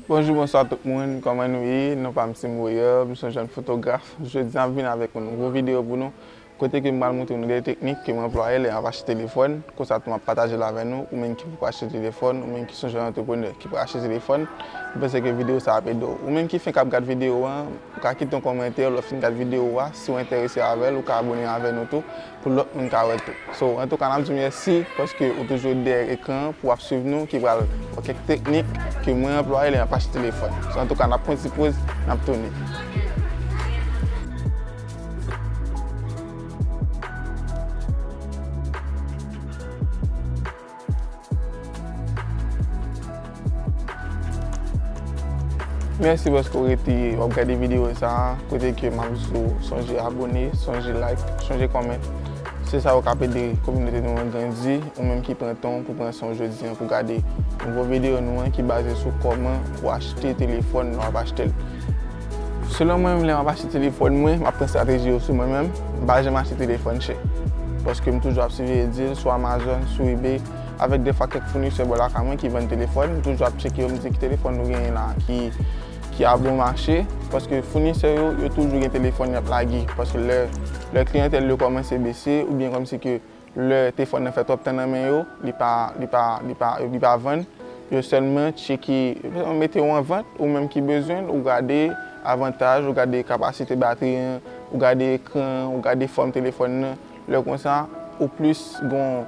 Bonjou bonswa tout moun kòman nou ye non pam se Moyè m son jèn fotograf jodi an m vin avèk yon nouvo videyo pou nou kote ke m pral montre nou de teknik ke m anplwaye lè map achte telefòn konsa tou map patajel avè nou ou menm ki poko achte telefòn ou menm ki son jèn antreprenè ki pral achte telefòn m panse ke videyo sa ap ede w ou menm ki fenk ap gad videyo an ou ka kite yon kòmantè lè w fin gad videyo a si w enterese avèl ou ka abone avè nou tou. pou lòt moun ka wè tou. So antouka nap diw mèsi paske ou toujou dèyè ekran an pou wap swiv nou ki pral wè kèk teknik ke mwen anplwaye lè map achte telefòn. So antouka nap pran ti poz nap tounen. Mèsi paske ou rete wap gade videyo sa a, kote ke map di ou sonje abone, sonje like, sonje comment. Se sa yo kap ede kominote nou an grandi, ou menm ki pran tan w pou pran san w jodi an pou gade nouvo videyo nou an ki baze sou kòman pou achte telefòn lè wap achte l. Selon mwen menm lè m ap achte telefòn mwen, m ap pran estrateji yo sou mwen menm, m pa janm achte telefòn chè. Paske m toujou ap siveye dil sou Amazon, sou ebay, avèk defwa kèk founisè bò lakay mwen ki vann telefòn, m toujou ap tcheke yo m di ki telefòn nou genyen la ki a bon mache. Paske founisè yo, yo toujou gen telefòn y ap lage. Paske lè kliyantèl yo kòmanse bese oubyen kòmsi ke Lè telefòn nan fè twòp tan nan men yo, li pa, li pa, li pa, li pa vann, yo sèlman tcheke, yo sèlman mete yo an vant, ou menm ki bezwen l, ou gade avantaj, ou gade kapasite batri an, ou gade ekran an, ou gade fòm telefòn nan. Lè konsa, ou plis gon,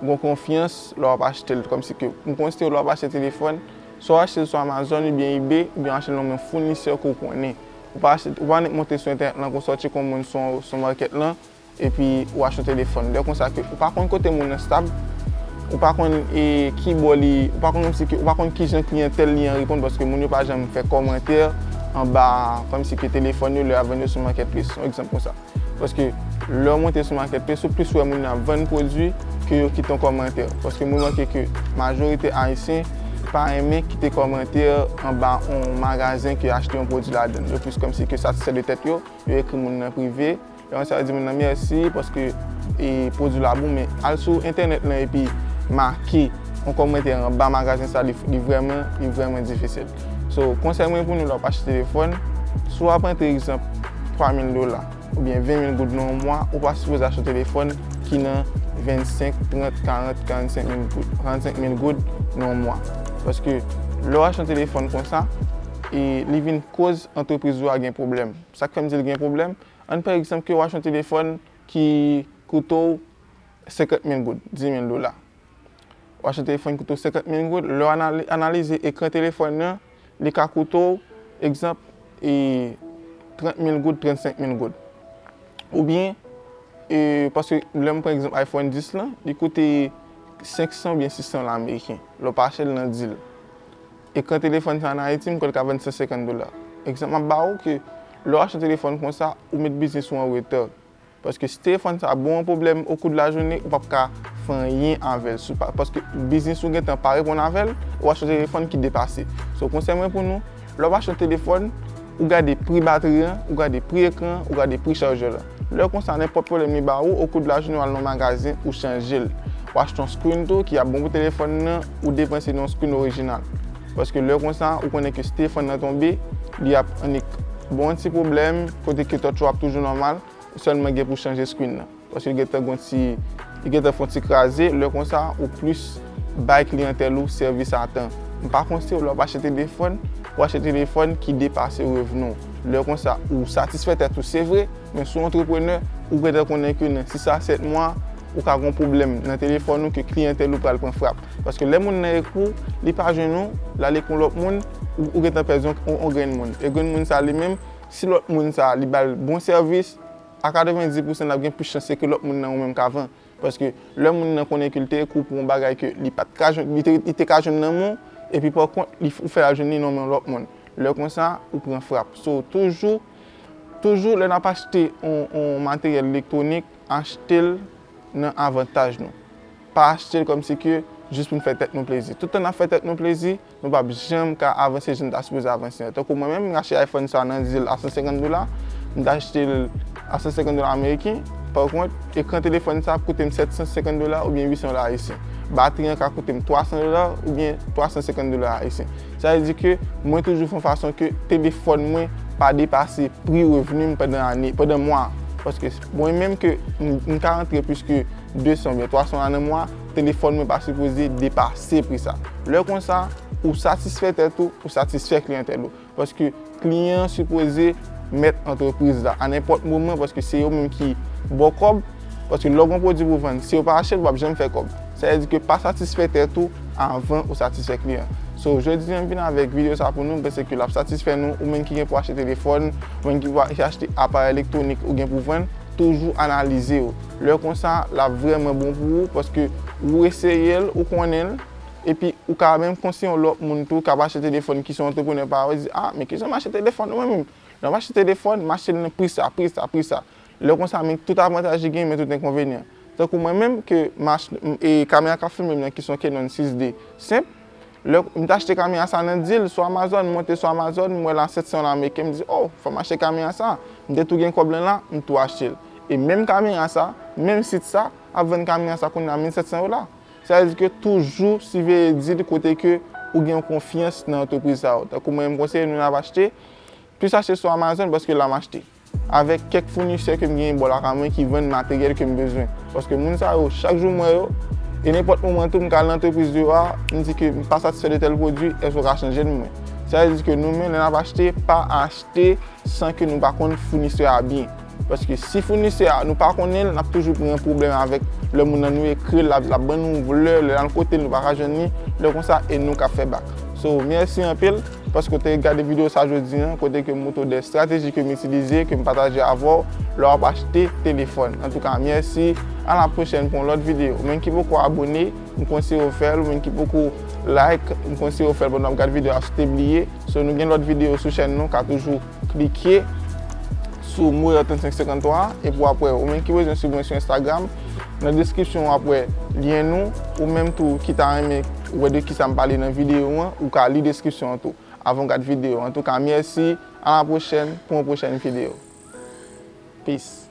gon konfyans lè w ap achte l. Kòmsi ke, m konseye w lè w ap achte telefòn, swa w achte l sou Amazon oubyen Ebay, oubyen w achte l nan men founisè ke w konnen. Ou pa achte, ou pa annik monte sou entènèt lan ke w sòti kon moun sou, sou market lan, Epi ou achte telefòn. Lè konsa ke ou pa konn kote moun nan stab, ou pa konn e ki bò li, ou pa konn kòm si ke, ou pa konn ki jan kliyantèl li an reponn paske moun yo pa janm fè kòmantè anba kòm si ke telefòn yo lè y ap vann yo sou makètples. Yon egzanp konsa. Paske lè ou monte sou makètples, ou plis wè moun nan ap vann pwodui ke yo kite yon kòmantè. Paske m remake ke majorite Ayisyen pa renmen kite kòmantè anba yon magazen ke yo achte yon pwodui ladan l. Yo plis kòm si ke satisfè de tèt yo, yo ekri moun nan prive. Fè yon sèl di moun nan mèsi paske pwodwi la bon men al sou entènèt lan epi make yon kòmantè anba magazen sa li vrèman li vrèman difisil so konsèy mwen pou nou lè wap achte telefòn si wap antre egzanp 3000 dola oubyen 20000 goud nan yon mwa ou pa sipoze achte yon telefòn ki nan 25 30 40 45 mil goud 45 mil goud nan yon mwa paske lè wap achte yon telefòn konsa li vin koz antrepriz ou a gen pwoblèm sak fèm di li gen pwoblèm Ann pran egzanp ke ou achte yon telefòn ki koute ou 50 mil goud, 10 mil dola. Ou achte yon telefòn ki koute ou 50 mil goud, lè w analize ekran telefòn nan, li ka koute ou, egzanp, 30 mil goud, 35 mil goud. Ou byen, paske lè m pran egzanp iPhone 10 lan, li koute 500 ou byen 600 dola ameriken, lè w pa achte l nan dil. Ekran telefòn sa an Ayiti m kwè l ka vann 150 dola. Egzanp m ap ba ou ke lè w achte telefòn konsa ou met biznis ou an retard. Paske si telefòn sa ba w yon pwoblèm okou de lajounen ou p ap ka fè anyen avè l sou pa paske biznis ou gentan pa reponn avè l ou achte yon telefòn ki depase. So konsèy mwen pou nou lè w ap achte yon telefòn. Ou gade pri batri an, ou gade pri ekran an, ou gade pri chargeur la. Lè konsa nenpòt pwoblèm li ba ou okou de la jounen wal nan magazen ou chanje l. Ou achte yon screen tou ki ap bon pou telefòn nan, ou depanse nan yon screen orijinal. Paske lè konsa ou konnen ke si telefòn nan tonbe, li ap annik. Bon yon ti pwoblèm, kote ke touch ou ap toujou nòmal, ou sèlman gen pou chanje screen nan. Paske li gentan gon ti, li gentan fon ti kraze, lè konsa ou plis bay kliyantèl ou sèvis a tan. M pa konseye w lè w ap achte telefòn, pou achte telefòn ki depase revni w. Lè konsa ou satisfè tèt ou se vre, men si w antreprenè, ou gentan konnen ke nan 6 a 7 mwa, ou ka gon pwoblèm nan telefòn ou ke kliyantèl ou pral pran frap. Paske lè moun nan ekri w, li pa jwenn ou, l ale kon lòt moun, ou gentan pèdi yon grenn moun. E grenn moun sa li menm, si lòt moun sa li ba l bon sèvis, A 90 pousan nap gen plis chans se ke lòt moun nan ou menm kavan. Paske lè moun nan konnen ke li te ekri w pou yon bagay ke li pat ka jwenn, li te ka jwenn nan men w, epi pa kont ou fè al jwenn li nan men yon lòt moun. Lè konsa, ou pran frap. So, toujou, toujou lè nap achte yon materyèl elektwonik, achte l nan avantaj nou. Pa achte l kòmsi ke jis pou nou fè tèt nou plezi. Tout tan nap fè tèt nou plezi. Nou pap janm ka avanse jan n ta sipoze avanse an. Tankou mwen menm, m achte iPhone sa nan dil a 150 dola, m ta achte l a 150 dola ameriken, pa kont, ekran telefòn sa ap koute m 750 dola oubyen 800 dola ayisyen. Batri an ka koute m 300 dola oubyen 350 dola ayisyen. Sa vle di ke mwen toujou fè yon fason ke telefòn mwen pa depase pri revni m pandan ane, pandan mwa a. Paske mwen menm ke m ka rantre plis ke 200 oubyen 300 dola nan mwa a, Telefòn mwen pa sipoze depase pri sa. Lè konsa, ou satisfè tèt ou, ou satisfè kliyantèl ou. Paske kliyan an sipoze mèt antrepriz la a nenpòt moman paske se yo menm ki ba w kòb. Paske lè w gen yon pwodui pou w vann, si yo pa achte l, w pap janm fè kòb. Sa vle di ke pa satisfè tèt ou avan ou satisfè kliyan an. So, jodi an m vin avèk videyo sa pou nou, m panse ke l ap satisfè nou. Ou menm ki gen pou achte telefòn, ou menm ki pou achte aparèy elektwonik ou gen pou vann, toujou analize yo. Lè konsa lap vrèman bon pou ou paske ou eseyel ou konnenl epi ou ka menm konseye yon lòt moun tou kap achte telefòn ki se yon antreprenè pa ou di ah men kijan m achte telefòn mwen menm lèm achte telefòn m achtel nan pri sa pri sa pri sa lè konsa men tout avantaj li gen men tout enkonvenyan tankou mwen menm ke kamera kap filmem nan ki se yon Canon 6D senp Lè m t achte kamyon a sa nan dil sou Amazon, m monte sou Amazon, m wè l a 700 dola ameriken, m di oh, fò m achte kamyon a sa. M te tou gen kòb lan la, m tou achte l. E menm kamyon a sa, menm sit sa, ap vann kamyon a sa kounye a 1700 dola. Sa vle di ke toujou siveye dil kote ke ou gen yon konfyans nan antrepriz sa yo. Tankou mwen menm konseye nou nan ap achte, plis achte sou Amazon paske la m achte. avèk kèk founisè ke m genyen bò lakay mwen ki vann materyèl ke m bezwen. Paske moun sa yo, chak jou m wè yo, e nenpòt moman tou m ka al nan antrepriz yo a, m di ke m pa satisfè de tèl pwodui, èske ou ka chanje l pou mwen? Sa vle di ke nou menm lè n ap achte, pa achte san ke nou pa konn founisè a byen. Paske si founisè a nou pa konnen l, n ap toujou pran pwoblèm avèk lè moun nan nou ekri l, l ap ban nou vlè, lè n al kote l nou pa ka jwenn li, lè konsa e nou k ap fè bak. So, mèsi anpil. Paske ou te gade video sa jodi an, kote ke m moutre w 2 strateji ke m itilize, ke m pataje avè w, lè w ap achte telefòn. Antouka, mèsi, a la pwochèn pou yon lòt video. Ou menm ki poko abone, m konseye w fè l, ou menm ki poko like, m konseye w fè l pandan w ap gad video a si w te bliye. So nou gen lòt video sou chèn nou, ka toujou. Klike sou mo Airtel 553 a epi w ap wè ou menm ki bezwen sibvensyon Instagram. Nan deskripsyon w ap wè lyen nou. Ou menm tou ki ta renmen wè de kisa m pale nan videyo an, ou ka li deskripsyon an tou avan w gad videyo an. Antouka mèsi, alapwochèn pou yon pwochèn videyo. Peace.